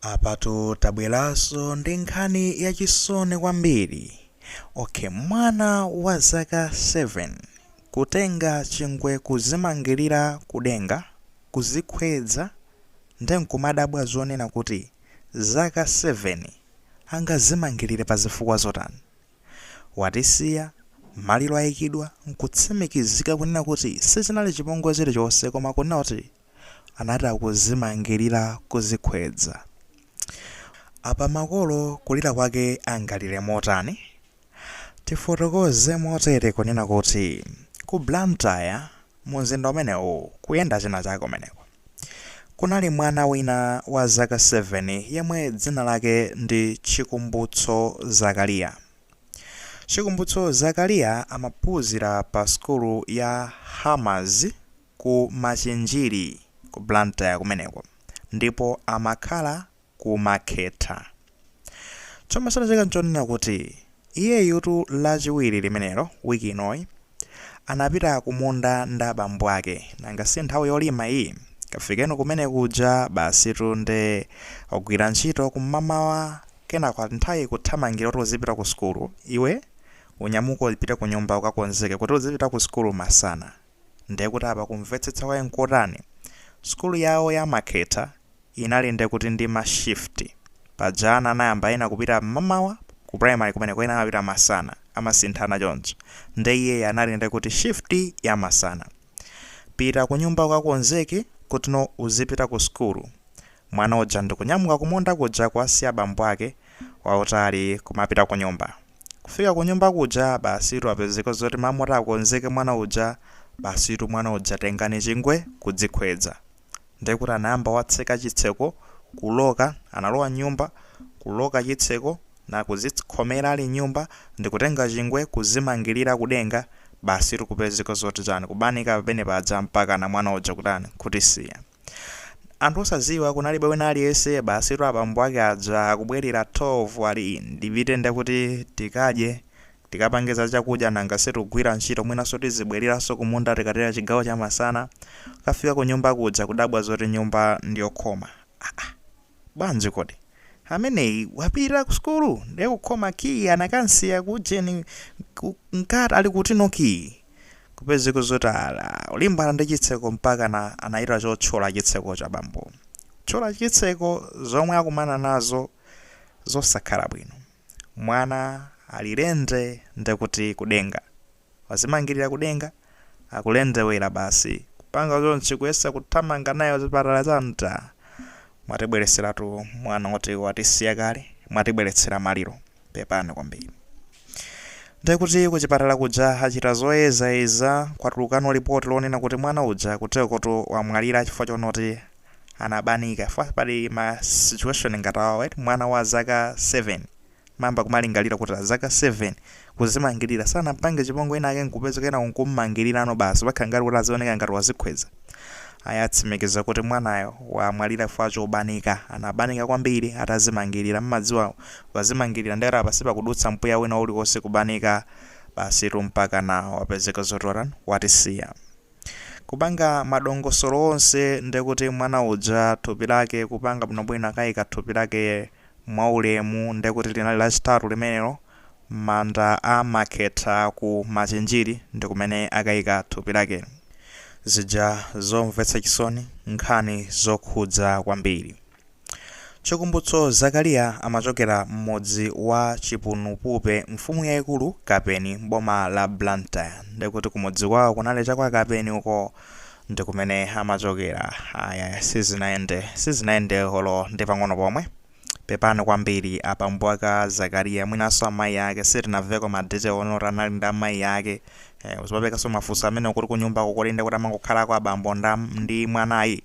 Apatu tabweraso ndi nkhani ya chisoni kwambiri ok mwana wa zaka 7 kutenga chingwe kuzimangilira kudenga kuzikhwedza nde nkumadabwa zonena kuti zaka 7 angazimangilire pa zifukwa zotani? Watisiya, maliro ayikidwa nkutsimikizika kunena kuti sichinali chipongwe chilichose koma kunena kuti anati akuzimangilira kuzikhwedza. Apa makolo kulira kwake angalire motani? Tifotokoze motere kunena kuti ku Blantyre mumzinda umenewu kuyenda china chake kumeneko. Kunali mwana wina wa zaka 7 yemwe dzina lake ndi Chikumbutso Zakaliya. Chikumbutso Zakaliya amaphunzira pa sukulu ya Hammer's. ku Machinjiri ku Blantyre kumeneko ndipo amakhala ku Makhetha. Chomwe chinachitika nchonena kuti iyeyutu lachiwiri limenelo week inoyi anapita kumunda ndi abambo ake nanga si nthawi yolima iyi? Kafikeni kumene kuja basitu nde agwira ntchito kum'mamawa kenako ati nthawi ikuthamanga kuti uzipita ku sukulu iwe unyamuke upite kunyumba ukakonzeke kuti uzipita ku sukulu masana. ndiye kuti apa kumvetsetsa kwake nkotani? Sukulu yawo ya Makhetha inali ndiye kuti ndi ma shift. Paja ana anayamba ena kupita mmamawa ku primary kumeneko ena amapita masana, amasinthana choncho. Ndiye iyeyu anali ndiye kuti shift ya masana. Pita kunyumba ukakonzeke kuti no uzipita ku sukulu. Mwana uja ndi kunyamuka kumunda kuja kuwasiya bambo ake wautali kumapita kunyumba. Kufika kunyumba kuja basitu kupezeka zoti mmalo moti akonzeke mwana uja basitu mwana uja tengani chingwe kudzikhwedza. Ndiye kuti anayamba watseka chitseko kuloka analowa mnyumba kuloka chitseko na kuzikhomera ali mnyumba ndikutenga chingwe kuzimangilira kudenga basitu kupezeka zoti chani kubanika pamene paja mpakana mwana uja kutani kutisiya. anthu osaziwa kunalibe wina aliyese basitu abambo ake aja akubwerera 12 ali in ndipite ndekuti tikadye tikapange za chakudya nanga si tagwira ntchito mwinaso tizibweleraso kumunda tikatera chigawo chamasana kukafika kunyumba kuja kudabwa zoti nyumba ndiyokhoma aa Bwanji kodi? Ameneyi wapita ku sukulu ndiye kukhoma kiyi anakamsiya ku ujeni ku nkati ali kuti no kiyi. Kupezeka zoti alimbana ndi chitseko mpakana anachita chotchola chitsekocho abambo. Kutchola chitseko zomwe akumana nazo zosakhala bwino. Mwana ali lende ndekuti kudenga. Wazimangilira kudenga? Akulendewera basi. Kupanga chonchi kuyesa kuthamanga naye kuchipatala cha ntaa? Mwatibweretseratu mwana woti watisiya kale. Mwatibweretsera maliro. Pepani kwambiri. Nde kuti kuchipatala kuja achita zoyezayeza kwatulukano lipoti lonena kuti mwana uja kuteroko wamwalira chifukwa choona kuti anabanika. Chifukwa pali ma situation ngati awawa eti, mwana wa zaka 7. Amayamba kumalingalira kuti wa zaka 7 kuzimangilira sanampange chipongwe wina ake nkupezeka kenako nkummangirirano basi pokhala ngati kuti azioneka ngati wazikhweza. Ayi atsimikiza kuti mwanayo wamwalira chifukwa chobanika. Anabanika kwambiri atazimangilira. Mmadziwa ukazimangilira nde kuti apa sipakudutsa mpweya wina uliwonse kubanika basitu mpakana wapezeka zoti watani? Watisiya. Kupanga madongosolo onse ndekuti mwana uja thupi lake kupanga bwinobwino akaika thupi lake mwaulemu nde kuti linali lachitatu limenelo mmanda a makhetha ku machinjiri ndikumene akaika thupi lake. zija zomvetsa chisoni nkhani zokhudza kwambiri chikumbutso zakalia amachokera mmudzi wa chipunupupe mfumu yaikulu kapeni mboma la blantyre ndekuti kumudzi kwao kunali cha kwa kapeni uko ndikumene amachokera ayaya sizinayende sizinayende olo ndi pang'ono pomwe pepani kwambiri abambo ake a Zakaria mwinanso amayi ake sitinamveko ma detail onena kuti anali nda amayi ake eh, uzipangaso mafunso amene kuti kunyumbako kodi ndekuti amangokhalako abambo nda ndi mwanayi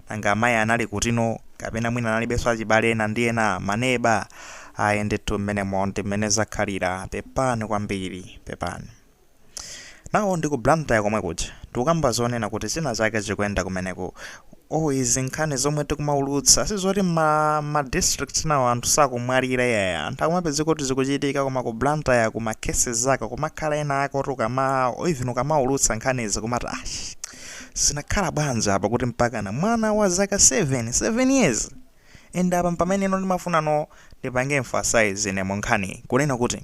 nanga amayi anali kutino kapena mwina analibenso achibale ena ndi ena maneba ayi ndithu mmenemo ndi mmene zakhalira pepani kwambiri pepani Now ndi ku Blantyre komwe kuja tikukamba zonena kuti china chake chikuyenda kumeneku. Oh izi nkhani zomwe tikumaulutsa sizoti ma, ma districts enawo anthu sakumwalira iyayi. Anthu akumapezeka kuti zikuchitika koma ku Blantyre kuma cases ake kumakhala ena ake oti ukama even ukamaulutsa nkhanizi kumati ah zinakhala bwanji apa kuti mpakana mwana wa zaka 7, 7 years And apa mpamene no ndimafuna no ndipange emphasize ine munkhaniyi kunena kuti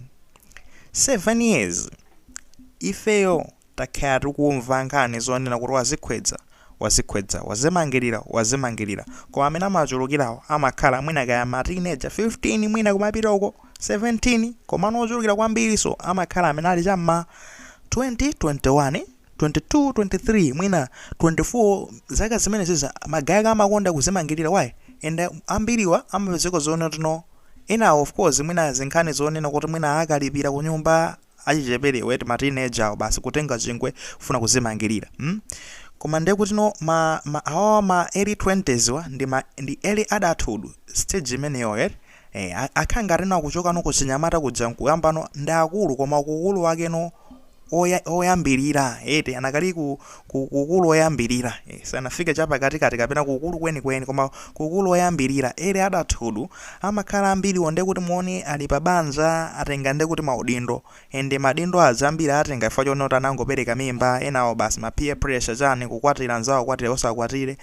7 years ifeyo takhala tikumva nkhani zonena kuti wazikhwedza wazikhwedza wazimangirira wazimangirira koma amene amachulukirawo amakhala mwina kaya ma teenager 15 mwina kumapita uko 17 komano ochulukira kwambiriso amakhala amene ali chamma 20 21 22 23 mwina 24 zaka zimenezi za ma guy aka amakonda kuzimangirira why and ambiriwa amapezeka zoona kuti no ena of course mwina zinkhani zoonena kuti mwina akalipira kunyumba achicheperewa eti ma teenager basi kutenga chingwe kufuna kuzimangirira hmm? koma ndiye kuti no ma, ma awa ma early 20s wa ndi ma ndi early adulthood stage imeneyo eti Eh, a- akhala ngati no akuchoka no kuchinyamata kuja nkuyamba no ndi akulu koma ukulu wake no oya- oyambirira eti anakali ku, ku, kukulu oyambirira eh, sanafike chapakatikati kapena kukulu kwenikweni koma kukulu oyambirira early adulthood amakhala ambiri onde kuti mwina ali pa banja atenga nde kuti maudindo ende maudindo azambiri atenga chifukwa chonena kuti anangopereka mimba enawo basi ma peer pressure chani kukwatira anzawo kwatira osakwatire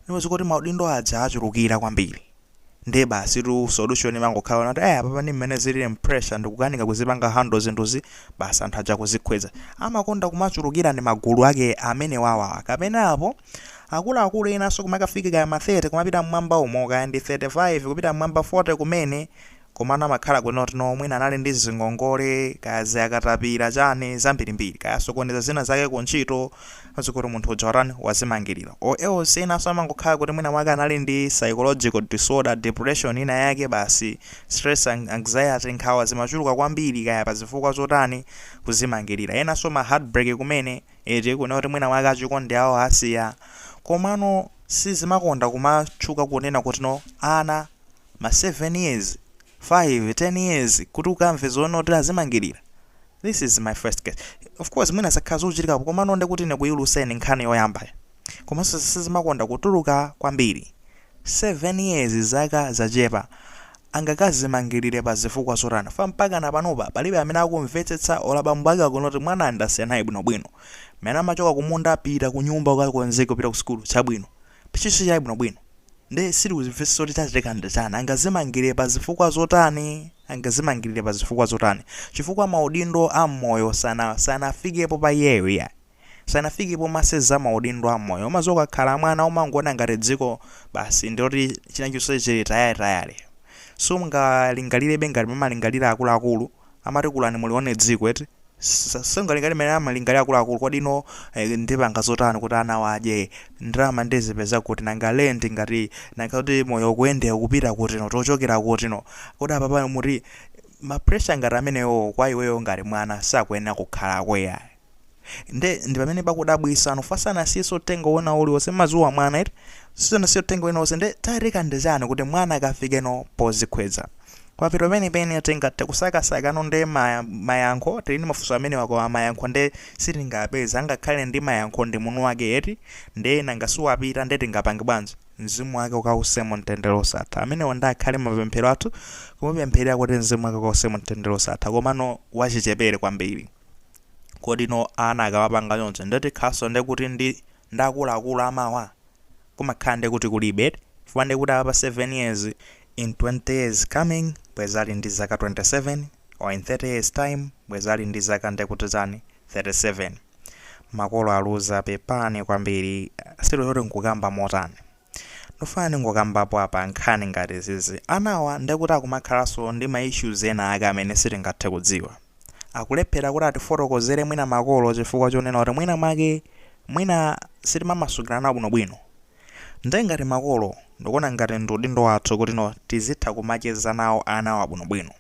niwezi kuti maudindo aja achulukira kwambiri ndiye basitu solution imangokhala yonena kuti eh apapa ndi mmene zilili pressure ndikukanika kuzipanga handle zinthuzi basi anthu aja kuzikhweza amakonda kumachulukira ndi magulu ake amene awawa kapena apo akuluakulu enanso kumakafika kaya ma 30 kumapita mmwamba umo kaya ndi 35 kupita mmwamba 40 kumene Komano amakhala kunena kuti no mwina anali ndi zingongole kaya za katapila chani zambirimbiri kaya asokoneza zina zake ku ntchito zikuti munthu uja watani wazimangilira or else enanso amangokhala kuti mwina mwake anali ndi psychological disorder, depression ina yake basi stress and anxiety nkhawa zimachuluka kwambiri kaya pa zifukwa zotani kuzimangilira enanso ma heartbreak kumene eti kunena kuti mwina mwake achikondi awo asiya komano sizimakonda kumatchuka kunena kuti no ana ma 7 years, 5, 10 years kuti ukamve zonena kuti azimangilira? This is my first case. Of course mwina zakhala zikuchitikapo komano ndekuti ine kuiuluseni nkhani yoyambayo. Komanso sizimakonda kutuluka kwambiri. 7 years zaka zachepa. Angakazimangilire pa zifukwa zotani? Chifukwa mpakana panopa palibe amene akumvetsetsa olo abambo ake akunena kuti mwanayu ndasiyana naye bwinobwino. Mmene amachoka kumunda pita kunyumba ukakonzeke upite kusukulu, chabwino. Tchalitchi chake bwinobwino nde sitikuzimvetsetsa kuti chachitika ndi chani, angazimangilire pa zifukwa zotani, angazimangilire pa zifukwa zotani, chifukwa maudindo a mmoyo sana sanafikepo pa iyeyo iyayi, sanafike pomasenza maudindo a mmoyo, umaziwa ukakhala mwana umangoona ngati dziko basi ndiloti chinachonse chili tayale tayale, siungalingalirebe ngati mmene amalingalira akuluakulu, amati kulani mulione dziko eti sungalingalire mmene amalingalira akuluakulu kodi no eh, ndipanga zotani kuti anawa adye ndalama ndizipeza kuti nanga lendi ngati nanga kuti moyo kuendera kupita kuti no tochokera kuti no kodi apa pano muti ma pressure ngati amenewo kwa iweyo ngati mwana sakuyenera kukhalako yayi nde ndipamene pakudabwisa no chifukwa sanasiyenso uthenga wina uliwonse umaziwa mwana eti sanasiyenso uthenga wina uliwonse nde chachitika ndi chani kuti mwana akafike no pozikhweza kwavuta penipeni atenga tikusakasaka no nde maya, mayankho tili ndi mafunso amenewa koma mayankho nde sitingawapeze angakhale ndi mayankho ndi mwini wake eti nde nanga siwapita nde tingapange bwanji mzimu wake ukawuse mu mtendere osatha amenewa nde akhale mapemphero athu kumupempherera kuti mzimu wake ukawuse mu mtendere osatha komano wachichepere kwambiri kodi no ana akamapanga choncho nde zikhanso nde kuti ndi akuluakulu amawa kumakhala nde kuti kulibe eti chifukwa nde kuti apa 7 years in 20 years coming bwezi ali ndi zaka 27 or in 30 years time bwezi ali ndi zaka nde kuti chani 37 makolo aluza pepani kwambiri si zoti nkukamba motani Ndufuna ndingokambapo apa nkhani ngati izizi. Anawa ndekuti akumakhalanso ndi ma issues ena ake amene sitingathe kudziwa. Akulephera kuti atifotokozere mwina makolo chifukwa chonena kuti mwina mwake mwina sitimamasukirana nawo bwinobwino. Nde ngati makolo ndikuona ngati ndi udindo wathu kutino tizitha kumacheza nawo anawa bwinobwino.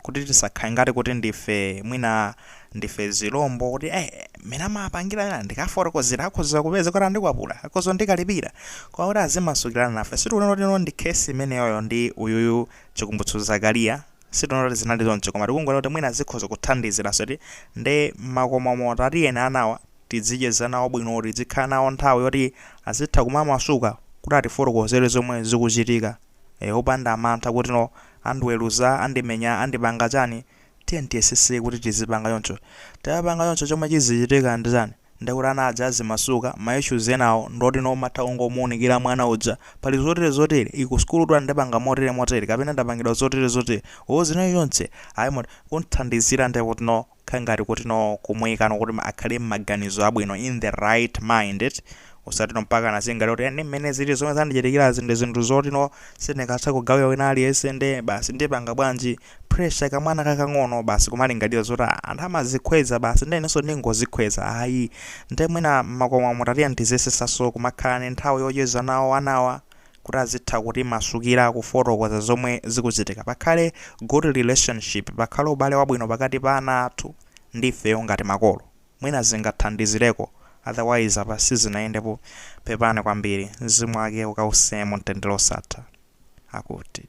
kuti tisakhale ngati kuti ndife mwina ndife zilombo kuti eh mmene amapangila ena ndikawafotokozera akhoza kupeza kuti andikwapula akhoza kundikalipira koma kuti azimasukirana nafe sitikunena kutino ndi case imeneyoyo ndi uyuyu Chikumbutso Zakaria sitikunena kuti zinali choncho koma tikungonena kuti mwina zikhoza kuthandizira soti nde mmakomomu tatiyeni anawa tidzicheza nawo bwino tidzikhala nawo nthawi yoti azitha kumamasuka kuti atifotokozere zomwe zikuchitika ee opanda mantha kutino andiweluza andimenya andipanga chani tiyeni tiyesese kuti tizipanga choncho tikapanga choncho chomwe chizichitika ndi chani ndekuti ana aja azimasuka ma issues enawo ndotino umatha kungomuunikila mwana uja pali zotere zotere ii kusukulutu andipanga motere motere kapena ndapangidwa zotere zotere or zina zilizonse ayi moti kumthandizila ndekutino kha ngati kutino kumuikano kuti akhale m'maganizo abwino in the right mind eti osatino mpaka mwana aziganiza kuti ndi mmene zili zomwe zandichitikirazi ndi zinthu zotino sindingathe kugawira wina aliyense nde basi ndipanga bwanji pressure kamwana kakang'ono basi kumalingalira zoti "Ah, anthu amazikhweza basi nde inenso ndingozikhweza ayi nde mwina mmakomomu tatiyeni tiziyesesaso kumakhala ni nthawi yocheza nawo anawa kuti azitha kutimasukila kufotokoza zomwe zikuchitika pakhale good relationship pakhale ubale wabwino pakati pa ana athu ndi ifeyo ngati makolo mwina zingathandizileko otherwise apa sizinayendepo pepani kwambili mzimu wake ukause mumtendele osatha akuti.